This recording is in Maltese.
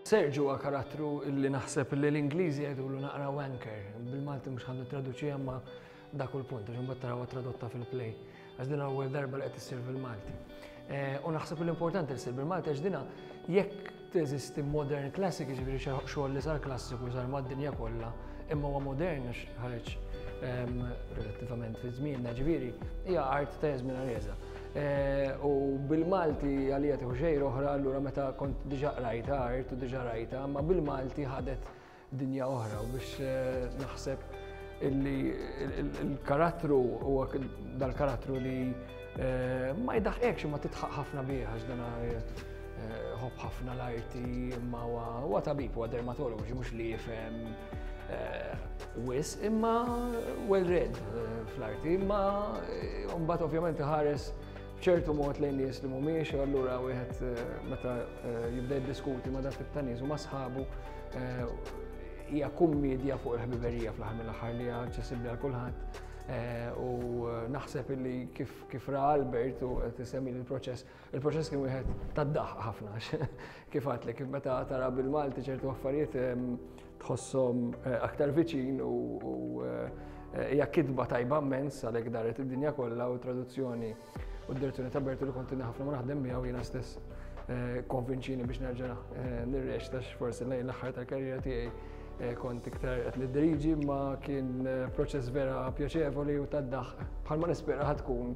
Serġu huwa karattru li naħseb li l-Ingliżi jgħidulu naqra wanker. Bil-Malti mhux ħandu traduċi imma dak u l-punt, għax imbagħad tarawha tradotta fil-play. Għax din l-ewwel darba li qed issir fil-Malti. Eh, u naħseb li l-importanti li ssir bil-Malti għax dina jekk teżisti modern classic, ġifieri xogħol li sar klassiku sar mad-dinja kollha, imma huwa modern għax ħareġ ehm, relattivament fi żmienna ġifieri hija art ta' żmien għarjeża. Eh, u bil-Malti għalija tieħu xejn oħra, allura meta kont diġa qrajta art u diġa rajta, ma bil-Malti ħadet dinja oħra u biex eh, naħseb illi il-karattru u dal-karattru li eh, ma jidaħqekx ma titħaq ħafna bieħax dana Eh, ħobb ħafna l-arti imma huwa tabib huwa dermatologu xi mhux li jifhem eh, wis imma well read eh, fl-arti imma mbagħad ovvjament ħares ċertu mod lejn nies li mhumiex u allura wieħed meta jibda jiddiskuti ma' dak ta' nies u ma' sħabu hija kummedja fuq il-ħbiberija fl-aħħar mill-aħħar li hija aċċessibbli għal kulħadd. Eh, u eh, naħseb illi kif ra Albert u tisemmi il-proċess, Il-proċess kien wieħed tad-daħq ħafna għax kif għadlek meta tara bil-Malti ċertu affarijiet ehm, tħossom eh, aktar viċin u eh, hija kitba tajba mmens għalhekk daret id-dinja kollha u traduzzjoni u d-direzzjoni ta' Bertu li kontinni ħafna ma naħdem miegħu jiena stess eh, konvinċini biex nerġa' nirrex tax forsi lejn l-aħħar tal-karriera tiegħi kont iktar qed nidriġi ma kien proċess vera pjaċevoli u tad-daħq bħalma nispera ħad tkun